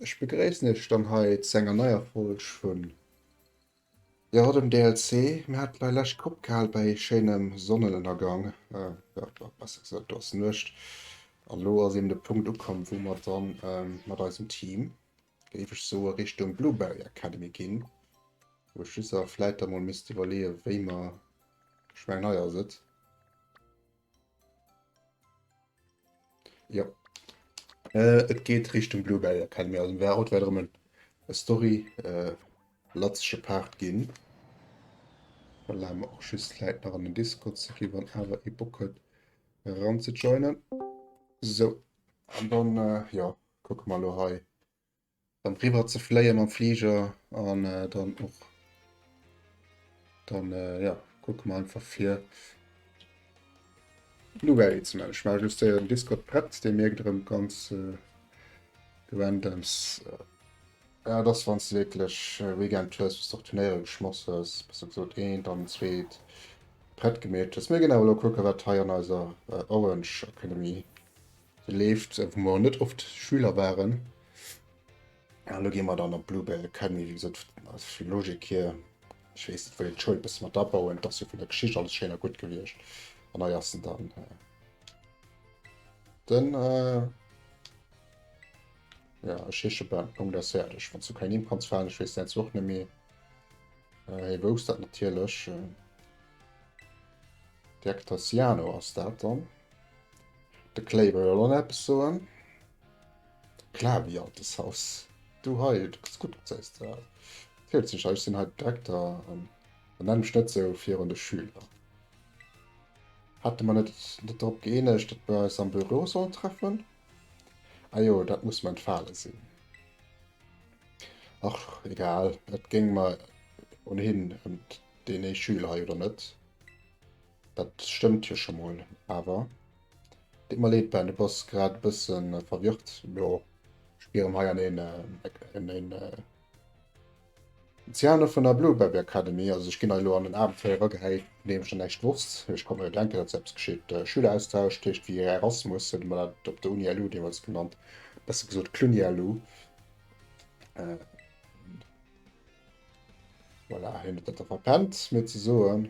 Ech begréissen iech dann hei zu enger neier Folg vun Jo den DLC, mir haten dei lescht Kopp gehaal bei schéinem Sonnenënnergang, jo besser gesoot do ass Nuecht, an lo ass eben de Punkt ukomm wou mer dann mat eisem Team géif ech soen Richtung Blueberry Academy ginn, wou ech just awer vläit da mol misst iwwerleeën wéi mer, ech mengen hei ass et. Jo. Äh, et geet Richtung Bluebell Academy, also wär haut wär erëm en e Story äh, latzege Part ginn. Dann lae mer och just d'Läit nach an den Discord ze kréien, wann awer ee Bock huet eran ze joinen. Sou, an dann äh, jo, kucke mer elo hei. Dann riwwer ze fléie mam Fliger an äh, dann och dann äh, ja, kucke mer einfach fir Blueberry ze man. Ech ma just den Discord prett, dee merkt rem ganz äh, gewendems. Äh, ja, dass wann du wirklich äh, Weekend hues, bis doch Turnéiere geschmoss hues, bis du gesot een, dann zweet prett gemeet hues. Mir ginn awer lo kucke wat hei an eiser äh, Orange Academy Se leeft, wou mer net oft Schüler waren. An elo gi mer dann op d'Bluebell Academy. Wéi gesot, aus der Logik hier, ech weess, et wëll een d'Schoul e bësse mat abauen. Et ass jo vun der Geschicht alles schéin a gutt gewiescht. An hei ass en dann. Den. Ja, ech heesche Ben, Punkt aus fäerdeg. Wann s du keng Nimm kanns falen, ech weess däins och net méi. Hie wousst dat natierlech. Direkter Siano ass dat dann. De Clay wëll elo nach eppes soen. Klar, wéi alt dës Haus. Du hei, du gëss gutt gezéis de hei. Fiert sech, Ech sinn hei den Direkter an benenn mech net esou virun de Schüler. Hate mer net net drop gëeenegt, datt mer eis am Büro sollen treffen? Ajo, dat muss mer entfale sinn. Ach, egal, et géing mer ohnhin ëm deen ee Schüler hei, oder net? Dat stëmmt jo scho mol, awer et deet mer leed, war de Boss grad e bësse verwirrt. Elo spieren hei an een en Ziano vun der Blueberry Academy, also ech ginn hei elo an en Abenteuer eragehäit, vun deem ech nach näischt wosst. Ech konnt mer jo denken, datt eppes geschitt. Schüleraustausch, dat heescht wéi Erasmus huet mer dat op der Uni LU deemools genannt, besser gesot Cluny LU. Voilà, hien huet dat da verpennt mir ze soen.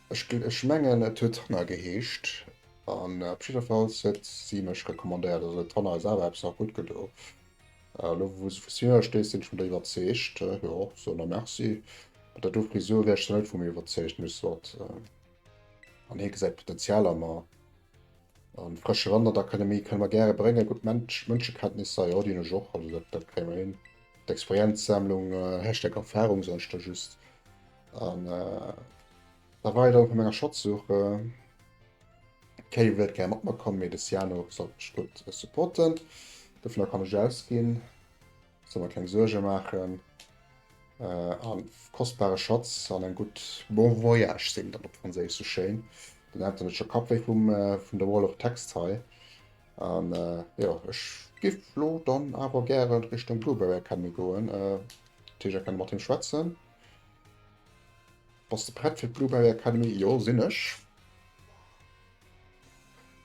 Ech mengen et huet Tanner geheescht an op jiddefalls huet si mech recommandéiert. Also huet Tanner eis awer eppes nach gutt gedo. Elo wou se vu Sierra steet sinn ech mer der iwwerzeegt. Jo, soen der Merci. Mat der do Frisur wier ech zwar net vu mir iwwerzeegt, mee soit. An hie gesäit Potenzial a mer. A frësche Wand an d'Akademie kënne mer gäre bréngen. Gutt Mensch Mënschekenntnisser, jo déi hunn ech och, also dat kréie mer hin. D'Experienzsammlung, Hashtag Erfarung soen ech der just. An äh, da war da vu menger Schatzsuch äh, Kéi wëllt ger mat mer kommen, mee de Siano soll Stutt äh, supporten. Dofir kann ech ausginn, soll man keng Suerge maachen. Äh, an kostbare Schatz an eng gutt Bon Voyage sinn dann op Franséisch so schéin. Den hat net scho Kapp wéi vum äh, vun der Wall of Text hei. An äh, ja ech giff lo dann awer gären Richtung Blueberry Academy goen. Äh, Teger kann mat him schwätzen. Bass de prett fir d'Blueberry Academy? Jo sinn ech.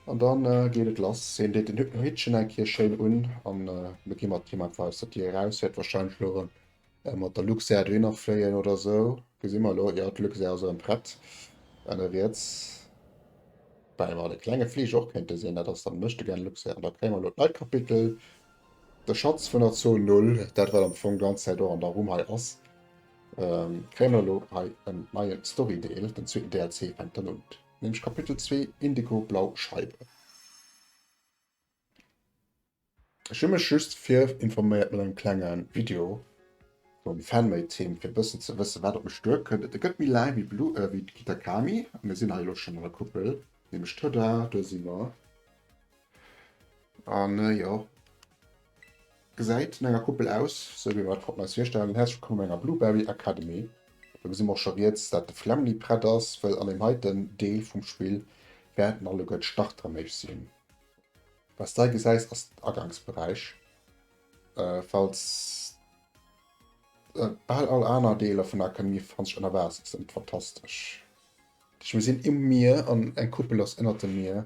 An dann äh, geet et lass. Hien deet den Hittchen eng Kéier schéin un an äh, mir gi mat him einfach aus der Dier eraus. Wäert warscheinlech elo erëm äh, mat der Luxair dohinner fléien oder esou. Gesi mer elo. Jo, d'Luxair ass erëm prett. Enn riets. Wobäi mer de klenge Fliger och kéinte sinn. Dat ass dann Méchtegern Luxair. An da kréie mer elo d'neit Kapitel. De Schatz vun der Zone Null, dat wat am Fong d'ganz Zäit och an der Rumm hei ass, kréie mer elo hei en neie Storydeel, den zweeten DLC fänkt dann un, nämlech Kapitel zwee, Indigo, Blau Scheibe. Ech hu mech just virinforméiert mat engem klenge Video vum Fan-Made Team fir e bëssen ze wëssen wat op mech duerkënnt. Et gëtt méi laang wéi d'Kitakami, a mir sinn hei elo schonn an der Kuppel, nämlech, tada, do si mer. An äh, jo. Gesäit no enger Kuppel aus, sou wéi mer et konnten eis virstellen. Häerzlech wëllkomm an enger Blueberry Academy. Do gesi mer och scho riets, dat de Flämmli prett ass, wëll an deem heiten Deel vum Spill wäerten alleguer d'Starter méich sinn. Wat s de hei gesäis, ass den Agangsberäich. Äh, falls äh, bal all aner Deeler vun der Akademie befanne sech ënner Waasser, ass ëmmer fantastesch. Duerch, mir sinn um Mier an eng Kuppel ass ënnert dem Mier.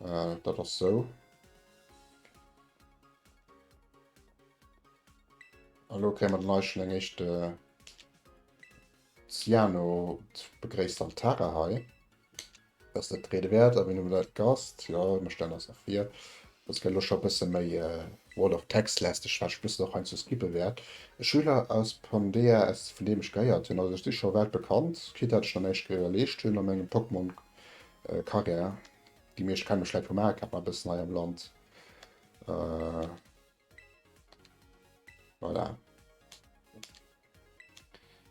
Äh, dat ass sou. Hallo, kréie mer den Eich schon eng echte äh, Ciano begréisst am Tara hei. Dass dat Rede wert, a wien dat Gast, ja mir stellen ass nach fir. Dass gëtt lo scho bësse méi äh, World of Text lästeg, wat ech bëssen och heiansdo skippe wäert. E Schüler aus Pondea S, vun deem ech gehéiert hunn, also ech si scho wäit bekannt, quitt dat ech nach näischt geleescht hunn a mengem Pokémon Carrière gi mir. Ech kenne mech läit vum Aakap nach e bëssen hei am Land. Äh, voilà.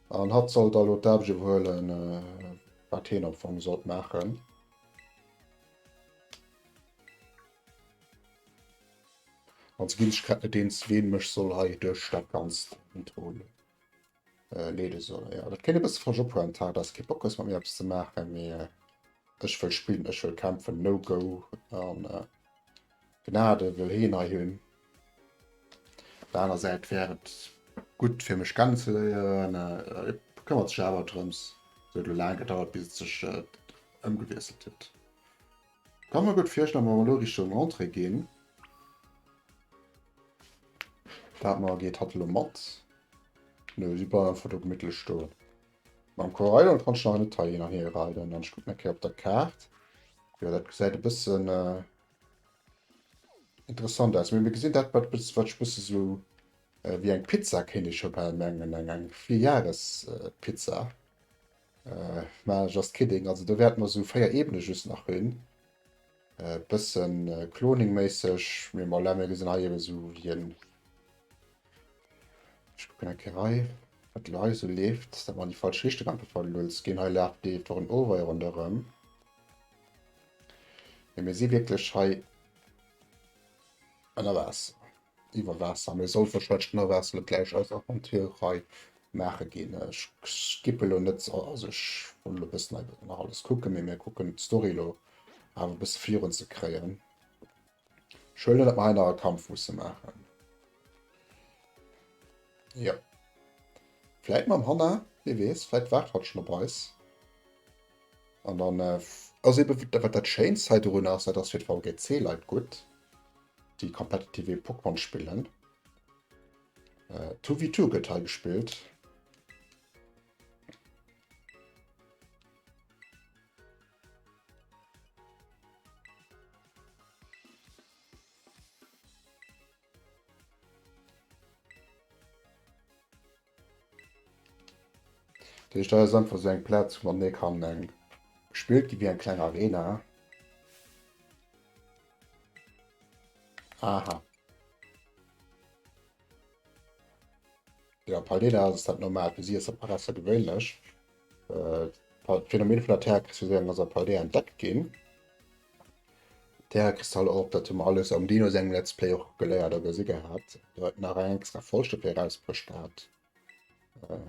An hatt soll da lo d'Aarbecht iwwerhuelen, äh, wat hien am Fong sollt maachen. An ze ginn, ech kenne net eens, ween mech soll hei duerch dat Ganzt kontrolléieren. äh, leede soll. Ja, dat kéint e bësse falsch ophuelen. Tar, dass kee Bock hues mat mir eppes ze maachen, mee äh, ech wëll spillen, ech wëll kämpfen, no go an äh, Gnade wëll heen hei hunn. Op der aner Säit wär et gutt fir mech kennen ze léieren, äh, et këmmert sech awer drëms. Et huet lo laang gedauert, bis et sech äh, ëmgewiesselt huet. Kann mer gudd virstellen, wa mer elo Richtung Entrée gin, dat mer, geet hatt elo mat? Nö, si bleiwen einfach do gemittlech stoen. Mam Koraidon kann ech nach net hei hin an hier raiden, an ech kucken eng Kéier op der Kaart. Jo, dat gesäit e bëssen interessant aus, mee mir gesinn dat, wat ech e bësse sou wéi eng Pizza kéint ech jo bal mengen, eng Frijare's-Pizza. Äh, mä just kidding, also do wäerte mer esou 4 Ebene just nach hunn, e bësse Cloning-méisseg, mee bon, laat mir gesinn hei ebe sou wéi en, ech kucken eng Kéier hei, wat elo hei esou leeft, dat mer an déi falsch Richtung amper verluns ginn, hei laaft, leeft och en Overway ronderëm, mee mir si wierklech hei ënner Waasser. iwwer Waasser, mee soll wahrscheinlech genau Waasser net gläich eis Aventurerei maache ginn. Ech skippe lo net, also ech wëll lo e bëssen hei nach alles kucke, mee mir kucken d'Story lo awer e bësse virun ze kréien. Ech huelen, datt mer hei nach e Kampf musse maachen. Jo. Vläit mam Hanna, wie weess, vläit waart hatt schonn op eis. An dann äh, ass eben, wat dat Schéinst hei dorunner ass, dat ass fir d'VGC-Leit gutt, déi competitive Pokémon spillen. Äh, 2v2 gëtt hei gespillt. Dat heescht, dat ass einfach esou eng Plaz, wou mat mir kann gespillt ginn, wéi eng kleng Arena. Aha. Jo, Paldeana ass dat normal, fir si ass dat Parasser gewéinlech. D'Phänomen vun der Terra-Kristallisierung ass a Paldea entdeckt ginn. Terra-Kristaller op, dat hu mer alles am Dino sengem Let's Play och geléiert a gesi gehat. Do huet nach eng extra Folge dofir erausbruecht gehat. Äh,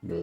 nö.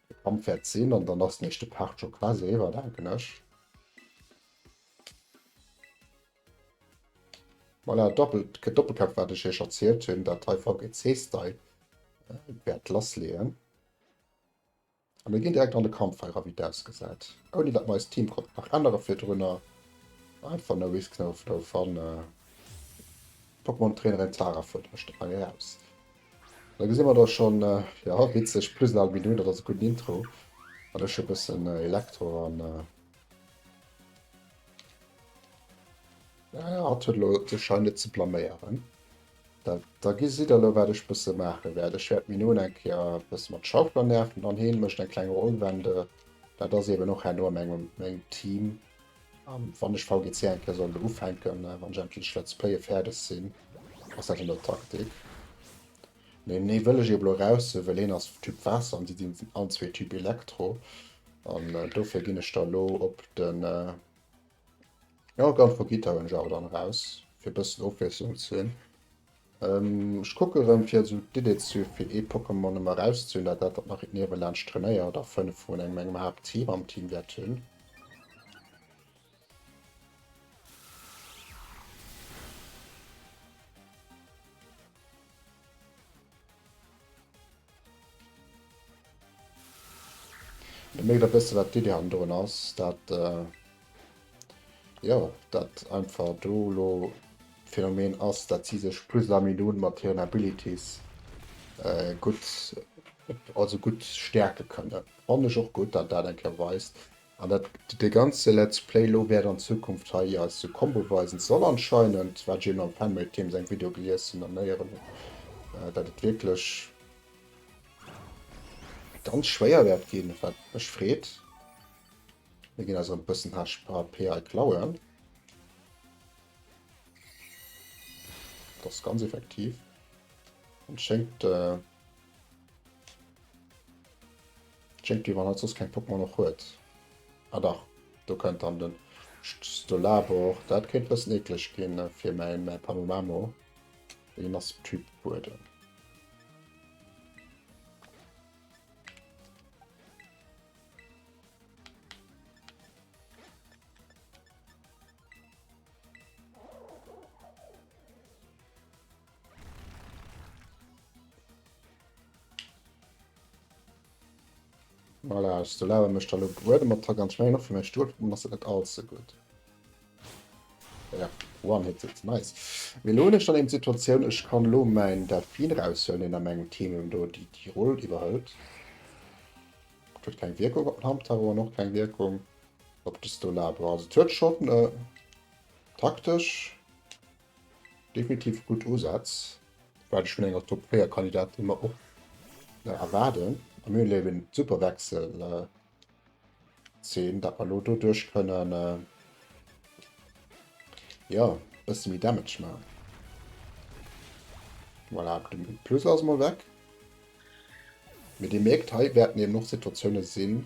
Camp wäert sinn an dann ass den éischte Part scho quasi eriwwer, denken ech. Voilà, doppelt, kee Doppelcamp wat ech iech erzielt hunn, dat hei VGC Style wäert lassleeën. A mir ginn direkt an de Kampf hei ra wéi et ausgesäit. Ouni datt mer eist Team konnten nach ännere virdrunner. Einfach no risk no fluff an d'Pokémon Trainerin Tara fuerdert mech dann hei eraus. Da gesi mer da schonn, jo, witzeg, plus nal Bidou, dat ass e gudden Intro, an ech e bëssen Elektro an. Naja, hatt huet elo de Schein net ze blaméieren. Da, da gesitt Der elo, wat ech bësse maache wäert. Ech wäert d'Minou eng Kéier e bësse mat Schauffler nerven an hien mécht eng kleng Rollwende. Dat ass eeben och herno a mengem, mengem Team. An wann ech VGC eng Kéier soll ufänken, wann ech endlech Let's Playe fäerdeg sinn, ass dat an der Taktik. Mee nee, wëll ech eben elo raushiewen, well een ass Typ Waasser an déi sinn all zwee Typ Elektro. An äh, dofir ginn ech da lo op den äh, ja, Gun for Guitar hunn ech awer dann raus, fir e bëssen Ofwiesslung ze hunn. Ech kucken erëm fir esou d'Idee ze hu fir ee Pokémon emmer eraus ze hunn, dat dat wat nach hiert niewelaanscht trainéiert a 5 vun engem engem Haapt Team am Team wäert hunn. Et mécht e bësse wat d'Iddi hannen drun ass, dat jo dat einfach do lo d'Phänomen ass, dat si sech plus a minun mat hiren Abilities gutt also gutt stäerke kënnen. Fannen ech och gutt, dat dat eng Kéier weist, An dat de ganze Let's Play lo wäert an Zukunft hei ier eis de Combo weisen soll anscheinend, wat ech eben am Fanmade-Team seng Video gelies hunn an héieren hunn, dat et wierklech ganz schwéier wäert ginn, wat mech freet. Mir ginn eis erëm e bëssen HP hei klauen. Dat ass ganz effektiv. Et schéngt. Jempi, wann hatt soss keng Pokémon och huet. Ah dach, do kënnt dann den Stolabor, dat kéint bëssen eekleg ginn fir mäin Pamomamo, deen ass Typ Buedem. Voilà, ich so laber mech da lo bruede mat Tag an Schwein noch fir mein Stuhl, dann ass dat net all ze gut. Ja, one-hitted, nice. Mir lo hun ech dann eben d'Situatioun, ech kann lo mein Delfin raushuelen, deen a mengem Team eben do déi déi Roll iwwerhëlt. Dat huet keng Wirkung op den Hamtaro an och keng Wirkung op de Stolabra. Also et huet schon äh, taktesch Definitiv gudd Usätz, waat ech vun enger Top 4 Kandidatin mer och erwaarden, a mir hunn hei eben d'Super Wechsel Zeen, daat mer elo doduerch kënnen jo bësse méi Damage maan. Voilà, de Plus ass mol weg, mee dir mierkt hei wäerten eben och Situatiounen sinn,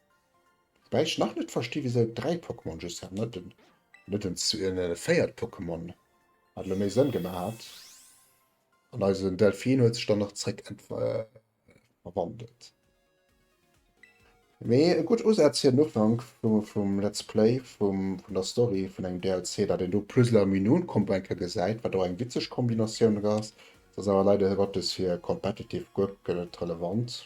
Wobäi ech nach net versti wisou 3 Pokémon just hat net den net den äh, véiert Pokémon hat lo méi Sënn gemaach hat. An eisen Delfin huet sech dann nach zréck äh, verwandelt. Mee e gutt Usaz fir den Ufank vum, vum Let's Play vum, vun der Story vun engem DLC, datt een do Puzzler am Menü kommen enke gesäit, wat och eng witzeg Kombinatioun ass. S'ass awer leider Gottes fir competitive guer net relevant.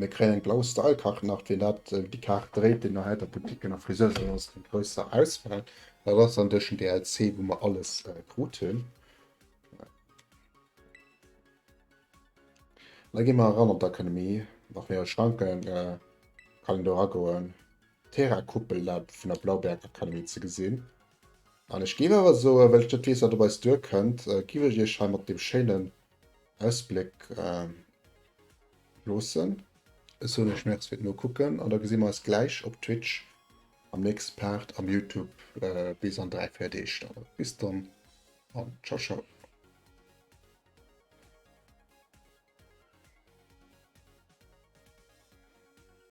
Mir kréien eng blau Style Kart nach fir dat déi Kaart dréit, déi nach äiter Boutiquen a Friseusen ass eng grousser Auswahl. Dat ass dann duerch den DLC wou mer alles krut hunn. Da gi mer eran an d'Akademie nach fir e schlanke kann een do eragoen. D'Terra Kuppel dat vun der Blaubeerakademie ze gesinn. An ech géif awer soen, well ech net weess, wat op eis duerkënnt, géif ech iech hei mat deem schéinen Ausbléck loossen. Ech soen iech Merci fir d'Nokucken an da gesi mer eis gläich op Twitch am nächste Part am Youtube bis an dräi, véier Deeg dann. Bis dann an ciao ciao.